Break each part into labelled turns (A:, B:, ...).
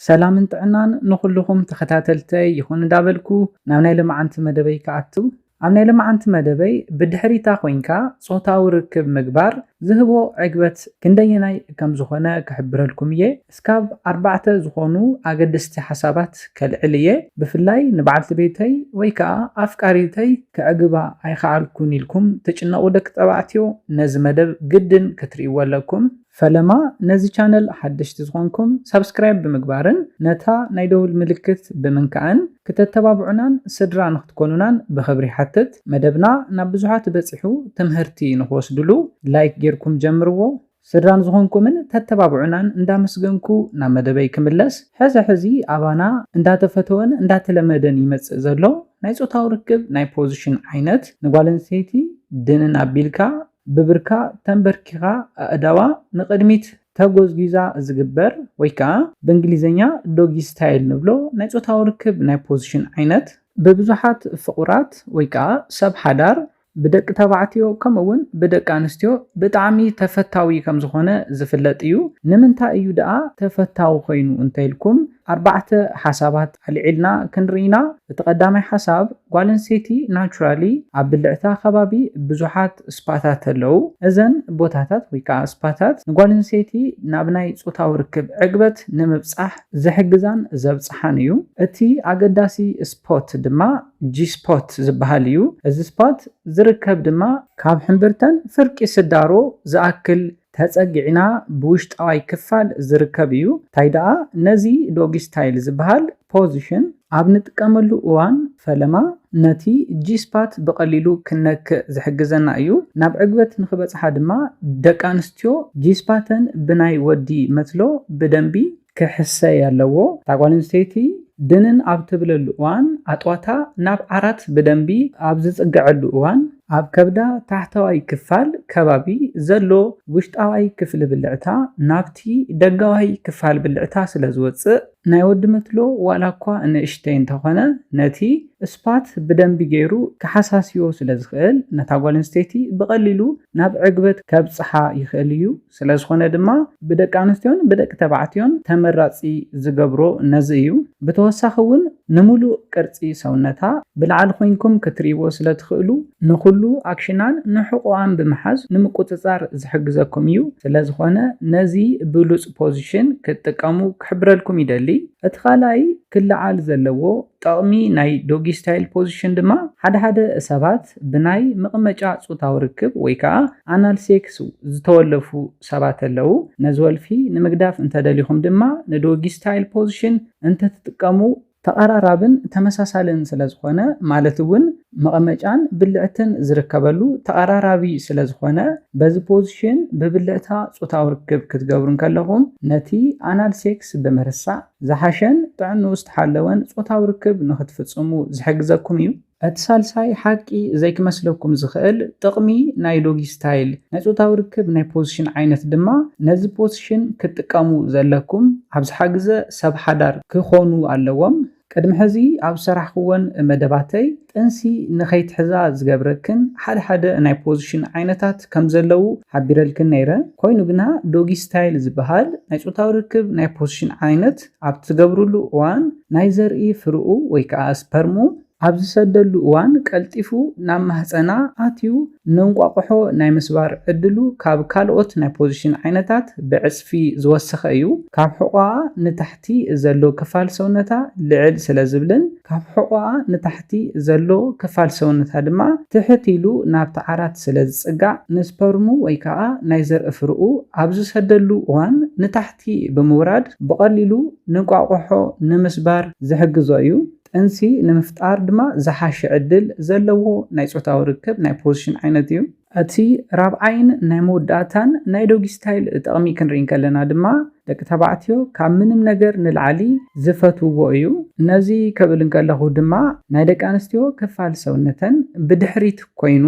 A: ሰላምን ጥዕናን ንኹሉኹም ተኸታተልተይ ይኹን እዳበልኩ ናብ ናይ ለማዓንቲ መደበይ ክኣቱ ኣብ ናይ ለማዓንቲ መደበይ ብድሕሪታ ኮይንካ ጾታዊ ርክብ ምግባር ዝህቦ ዕግበት ክንደየናይ ከምዝኾነ ክሕብረልኩም እየ እስካብ ኣርባዕተ ዝኾኑ ኣገደስቲ ሓሳባት ከልዕል እየ ብፍላይ ንባዓልቲ ቤተይ ወይ ካኣ ኣፍቃሪተይ ከዕግባ ኣይኻኣልኩን ኢልኩም ትጭነቁ ደቂ ተባዕትዮ ነዚ መደብ ግድን ክትሪእዎ ኣለኩም ፈለማ ነዚ ቻነል ሓደሽቲ ዝኾንኩም ሳብስክራይብ ብምግባርን ነታ ናይ ደውል ምልክት ብምንካእን ክተተባብዑናን ስድራ ንክትኮኑናን ብኽብሪ ይሓትት። መደብና ናብ ብዙሓት በጺሑ ትምህርቲ ንክወስድሉ ላይክ ጌርኩም ጀምርዎ። ስድራ ንዝኾንኩምን ተተባብዑናን እንዳመስገንኩ ናብ መደበይ ክምለስ ሕዚ ሕዚ ኣባና እንዳተፈተወን እንዳተለመደን ይመጽእ ዘሎ ናይ ጾታዊ ርክብ ናይ ፖዝሽን ዓይነት ንጓል ኣንስተይቲ ድንን ኣቢልካ ብብርካ ተንበርኪኻ ኣእዳዋ ንቕድሚት ተጎዝጒዛ ዝግበር ወይ ከኣ ብእንግሊዝኛ ዶጊ ስታይል ንብሎ ናይ ጾታዊ ርክብ ናይ ፖዚሽን ዓይነት፣ ብብዙሓት ፍቑራት ወይ ከኣ ሰብ ሓዳር፣ ብደቂ ተባዕትዮ ከምኡ'ውን ብደቂ ኣንስትዮ ብጣዕሚ ተፈታዊ ከም ዝኾነ ዝፍለጥ እዩ። ንምንታይ እዩ ደኣ ተፈታዊ ኮይኑ እንተኢልኩም፣ ኣርባዕተ ሓሳባት ኣልዒልና ክንርኢ ኢና እቲ ቀዳማይ ሓሳብ ጓል ኣንስተይቲ ናቹራሊ ኣብ ብልዕታ ከባቢ ብዙሓት ስፓታት ኣለው እዘን ቦታታት ወይ ከኣ ስፓታት ንጓል ኣንስተይቲ ናብ ናይ ጾታዊ ርክብ ዕግበት ንምብጻሕ ዝሕግዛን ዘብጽሓን እዩ እቲ ኣገዳሲ ስፖት ድማ ጂ ስፖት ዝበሃል እዩ እዚ ስፓት ዝርከብ ድማ ካብ ሕምብርተን ፍርቂ ስዳሮ ዝኣክል ተጸጊዕና ብውሽጣዋይ ክፋል ዝርከብ እዩ። ታይ ደኣ ነዚ ዶጊ ስታይል ዝበሃል ፖዚሽን ኣብ ንጥቀመሉ እዋን ፈለማ ነቲ ጂ-ስፓት ብቐሊሉ ክንነክእ ዝሕግዘና እዩ። ናብ ዕግበት ንክበጽሓ ድማ ደቂ ኣንስትዮ ጂ-ስፓተን ብናይ ወዲ መትሎ ብደንቢ። ክሕሰ ያለዎ እታ ጓል ኣንስተይቲ ድንን ኣብ ትብለሉ እዋን ኣጥዋታ ናብ ዓራት ብደንቢ ኣብ ዝጽገዐሉ እዋን ኣብ ከብዳ ታሕተዋይ ክፋል ከባቢ ዘሎ ውሽጣዋይ ክፍሊ ብልዕታ ናብቲ ደጋዋይ ክፋል ብልዕታ ስለ ዝወጽእ ናይ ወዲ መትሎ ዋላ እኳ ንእሽተይ እንተኾነ ነቲ ስፓት ብደንቢ ገይሩ ክሓሳስዮ ስለ ዝኽእል ነታ ጓል ኣንስተይቲ ብቐሊሉ ናብ ዕግበት ከብጽሓ ይኽእል እዩ። ስለዝኾነ ድማ ብደቂ ኣንስትዮን ብደቂ ተባዕትዮን ተመራፂ ዝገብሮ ነዚ እዩ። ብተወሳኺ እውን ንሙሉእ ቅርፂ ሰውነታ ብላዕሊ ኮይንኩም ክትሪእዎ ስለትኽእሉ ንኹሉ ኣክሽናን ንሕቖኣን ብምሓዝ ንምቁፅፃር ዝሕግዘኩም እዩ። ስለዝኾነ ነዚ ብሉፅ ፖዚሽን ክትጥቀሙ ክሕብረልኩም ይደሊ። እቲ ካልኣይ ክለዓል ዘለዎ ጠቕሚ ናይ ዶጊ ስታይል ፖዚሽን ድማ ሓደ ሓደ ሰባት ብናይ ምቕመጫ ጹታዊ ርክብ ወይ ከኣ ኣናል ሴክስ ዝተወለፉ ሰባት ኣለዉ። ነዚ ወልፊ ንምግዳፍ እንተደሊኹም ድማ ንዶጊ ስታይል ፖዚሽን እንተትጥቀሙ፣ ተቐራራብን ተመሳሳልን ስለዝኾነ ማለት እውን መቐመጫን ብልዕትን ዝርከበሉ ተቐራራቢ ስለዝኾነ በዚ ፖዚሽን ብብልዕታ ጹታዊ ርክብ ክትገብሩ እንከለኹም ነቲ ኣናል ሴክስ ብምርሳዕ ዝሓሸን ጥዕንኡ ዝተሓለወን ጾታዊ ርክብ ንኽትፍጽሙ ዝሕግዘኩም እዩ። እቲ ሳልሳይ ሓቂ ዘይክመስለኩም ዝኽእል ጥቕሚ ናይ ዶጊ ስታይል ናይ ጾታዊ ርክብ ናይ ፖዝሽን ዓይነት ድማ ነዚ ፖዝሽን ክትጥቀሙ ዘለኩም ኣብ ዝሓግዘ ሰብ ሓዳር ክኾኑ ኣለዎም። ቅድሚ ሕዚ ኣብ ዝሰራሕክወን መደባተይ ጥንሲ ንኸይትሕዛ ዝገብረክን ሓደ ሓደ ናይ ፖዚሽን ዓይነታት ከም ዘለዉ ሓቢረልክን ነይረ። ኮይኑ ግና ዶጊ ስታይል ዝበሃል ናይ ጾታዊ ርክብ ናይ ፖዚሽን ዓይነት ኣብ ትገብርሉ እዋን ናይ ዘርኢ ፍርኡ ወይ ከኣ ስፐርሙ፣ ኣብ ዝሰደሉ እዋን ቀልጢፉ ናብ ማህጸና ኣትዩ ንእንቋቑሖ ናይ ምስባር ዕድሉ ካብ ካልኦት ናይ ፖዚሽን ዓይነታት ብዕጽፊ ዝወሰኸ እዩ። ካብ ሕቖኣ ንታሕቲ። እቲ ዘሎ ክፋል ሰውነታ ልዕል ስለ ዝብልን ካብ ሕቖኣ ንታሕቲ ዘሎ ክፋል ሰውነታ ድማ ትሕት ኢሉ ናብቲ ዓራት ስለ ዝጽጋዕ ንስፐርሙ ወይ ከኣ ናይ ዘርኢ ፍረኡ ኣብ ዝሰደሉ እዋን ንታሕቲ ብምውራድ ብቐሊሉ ንእንቋቑሖ ንምስባር ዝሕግዞ እዩ። ጥንሲ ንምፍጣር ድማ ዝሓሸ ዕድል ዘለዎ ናይ ጾታዊ ርክብ ናይ ፖዚሽን ዓይነት እዩ። ኣቲ ራብዓይን ናይ መወዳእታን ናይ ዶጊ ስታይል ጠቕሚ ክንርኢ እንከለና ድማ ደቂ ተባዕትዮ ካብ ምንም ነገር ንልዓሊ ዝፈትውዎ እዩ። ነዚ ከብል እንከለኹ ድማ ናይ ደቂ ኣንስትዮ ክፋል ሰውነተን ብድሕሪት ኮይኑ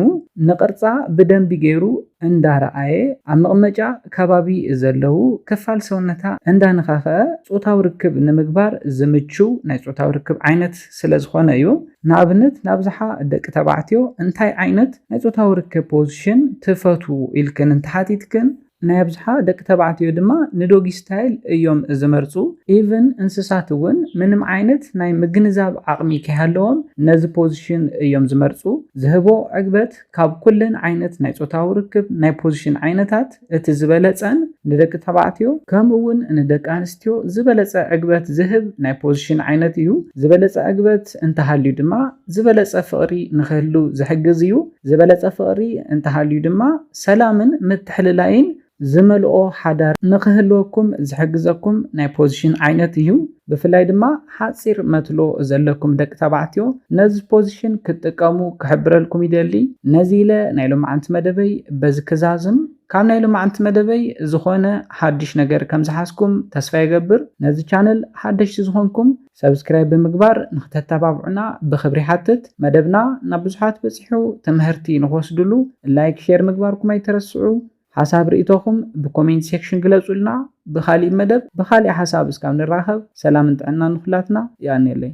A: ንቕርጻ ብደንቢ ገይሩ እንዳ ረኣየ ኣብ መቕመጫ ከባቢ ዘለዉ ክፋል ሰውነታ እንዳ ነኻኸኣ ጾታዊ ርክብ ንምግባር ዝምችው ናይ ጾታዊ ርክብ ዓይነት ስለ ዝኾነ እዩ። ንኣብነት ንኣብዝሓ ደቂ ተባዕትዮ እንታይ ዓይነት ናይ ጾታዊ ርክብ ፖዝሽን ትፈትዉ ኢልክን እንተሓቲትክን ናይ ኣብዝሓ ደቂ ተባዕትዮ ድማ ንዶጊ ስታይል እዮም ዝመርጹ ኢቭን እንስሳት እውን ምንም ዓይነት ናይ ምግንዛብ ዓቕሚ ከይሃለዎም ነዚ ፖዝሽን እዮም ዝመርጹ። ዝህቦ ዕግበት ካብ ኩለን ዓይነት ናይ ጾታዊ ርክብ ናይ ፖዝሽን ዓይነታት እቲ ዝበለጸን ንደቂ ተባዕትዮ ከምኡ ውን ንደቂ ኣንስትዮ ዝበለጸ ዕግበት ዝህብ ናይ ፖዚሽን ዓይነት እዩ። ዝበለጸ ዕግበት እንተሃልዩ ድማ ዝበለጸ ፍቕሪ ንክህሉ ዝሕግዝ እዩ። ዝበለጸ ፍቕሪ እንተሃልዩ ድማ ሰላምን ምትሕልላይን ዝመልኦ ሓዳር ንክህልወኩም ዝሕግዘኩም ናይ ፖዚሽን ዓይነት እዩ። ብፍላይ ድማ ሓጺር መትሎ ዘለኩም ደቂ ተባዕትዮ ነዚ ፖዚሽን ክትጥቀሙ ክሕብረልኩም ይደሊ። ነዚ ኢለ ናይ ሎማዓንቲ መደበይ በዚ ክዛዝም። ካብ ናይ ሎማዓንቲ መደበይ ዝኾነ ሓድሽ ነገር ከም ዝሓዝኩም ተስፋ ይገብር። ነዚ ቻነል ሓደሽቲ ዝኾንኩም ሰብስክራይብ ብምግባር ንክተተባብዑና ብኽብሪ ይሓትት። መደብና ናብ ብዙሓት በጺሑ ትምህርቲ ንክወስድሉ ላይክ ሼር ምግባርኩም ኣይትረስዑ። ሓሳብ ርኢቶኹም ብኮሜንት ሴክሽን ግለጹልና ብኻሊእ መደብ ብኻሊእ ሓሳብ እስካብ ንራኸብ ሰላምን ጥዕናን ንኹላትና የቀንየለይ።